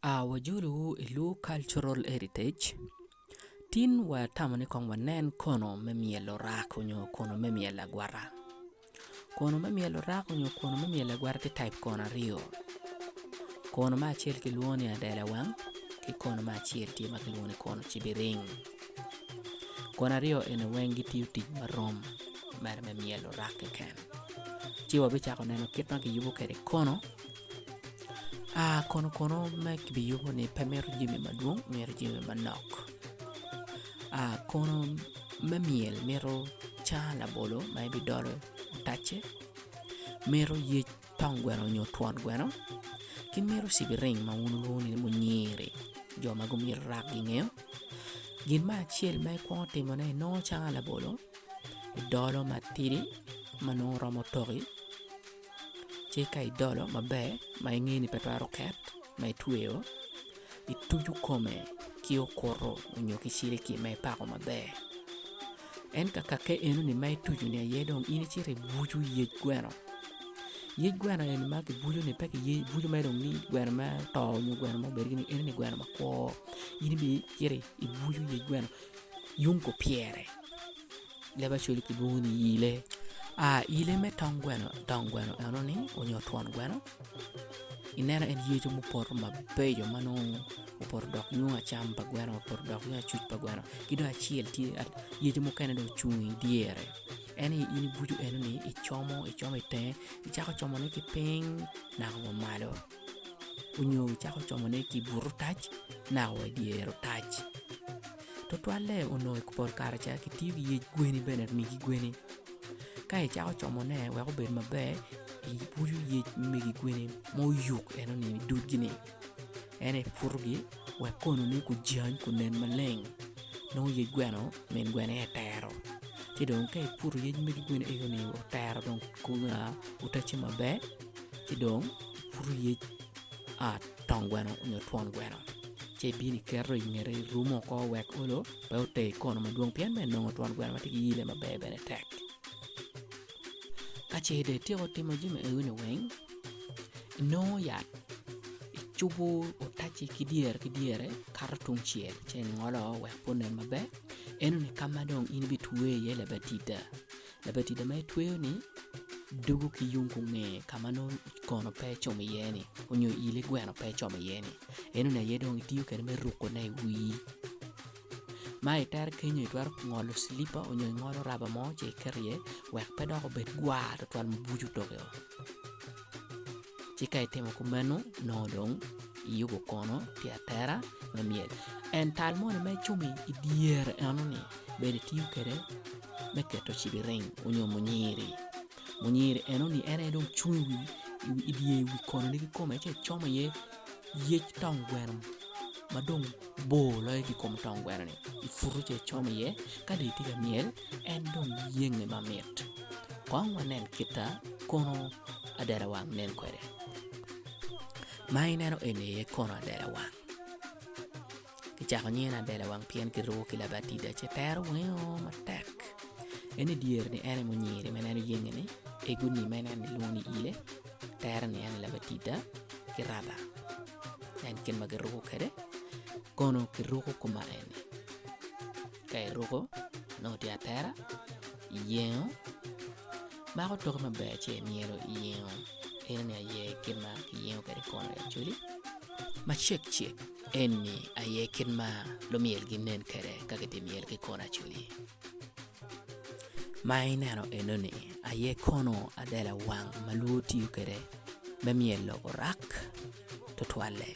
aa wajolo wu i lur cultural heritage tin watamo ni kong wanen kono me myelo rak nyo kono me myelo agwata kono me myelo rak nyo kono me myelo agwata tye type kono aryo kono me acel kilwongo ni adela wang ki kono me acel tye ma kilwongo ni kono cibiring kono aryo eni weng gitiyo tic marom mere me myelo rak keken ci wabicako neno kit ma kiyubo kwede kono Kono kono ma kibiyubo ni pe mito jami madwong mito jami manok kono me myel mito caa labolo ma ibidolo otacce, mito yec tong gweno nyo twon gweno ki mito cigiring ma wun wulwongo ni munyiri jo ma gumito rap gingeyo gin me acel ma ikwongo timone inongo caa labolo idolo matidi ma nongo romo toki. ci ka idolo maber ma ingeyo ni pe twero ket ma itweyo ituco kome ki okuto nyo ki cilikili ma ipako maber ento kake enoni ma ituco ni aye dong in icito ibuco yec gweno, yec gweno eni ma kibuco ni pe kibuco mere dong ni gweno ma oto nyo gweno ma obedo gini enoni gweno makwo in ibicito ibuco yec gweno yung kupyere. Labacol kilwongo ni yile. Yile me tong gweno tong gweno eno ni onyo twon gweno i neno en yece mupoto mabeco ma nongo opoto dok nyoung acam pa gweno opoto dok nyoung acuc pa gweno ki dong acel tye yece mukene dong ocung i dyere en aye in ibucu eno ni icomo icomo itenge icako comone ki ping naka wa malo onyo wucako como ne ki buto otac naka wa idyere otac tutwalle onongo i pol kare ca ki tiyo ki yec gweni bene megi gweni ka icako como ne wek obed maber ibuto yec megi gweni ma oyuk eno ni dudgi ni ento iputo gi wek kono ne gujany gunen maleng nongo yec gweno min gweno aye tero ci dong ka iputo yec megi gweni eno ni otero dong otacce maber ci dong pud oyec a tong gweno nyo twon gweno ci ibino iketo i ngete irumo oko wek olo pe oter i kona madwong pien bene nongo twon gweno ma tye ki yelle maber bene tek ka ce dong ityeko timo jami eni weng inongo yat icubo otaci ki dyere ki dyere kato tungcel ci ingolo wek pe onen maber enoni ka ma dong in ibitweyo iye labatida Labatida ma itweyo ni dugu ki yung kunge ka ma nongo kono pe ecomo iye ni onyo ile gweno pe ecomo iye ni eno ni aye dong itiyo kwede me ruko ne iwii ma itere kenyo itwero ngolo cilipa onyo ingolo raba mo ci iketo iye wek pe dok obed gwar tutwal ma buco toke o. Ci ka itimo kumeno, nongo dong iyubo kono pi atera me myel. En tal moni ma icomo i dyere eno-ni bene itiyo kwede me keto cibiring onyo munyiri. Munyiri eno-ni en aye dong cung i wi i dye wi konone ki kome ci ecomo iye yec tong gweno ma dong bor loyo ki i kom tong gwenoni iputo ci icomo iye ka dong itye ka myel en dong yenge mamit. Kong wanen kita kono adada wang nen kwede. Ma ineno eni aye kono adada wang. Kicako nyinge ni adada wang pien kiruko ki labatida ci tero wingo matek. En i dyere ni en aye munyiri ma ineno yenge ni, egoni ma ineno ni kilwongo ni ile, tere ni en aye labatida ki raba. En kit ma kiruko kwede kono kiruko kuma eni. Ka iruko nongo tye atera, iyengo, mako toki maber ci imyelo iyengo ineno aye kit ma kiyengo kwede kona i Acholi ma cekcek eni aye kit ma lumyel ginen kwede ka gitye ka myel ki kona Acholi ma ineno enoni aye kono adela wang ma lwor tiyo kwede me myelo orak tutwalle.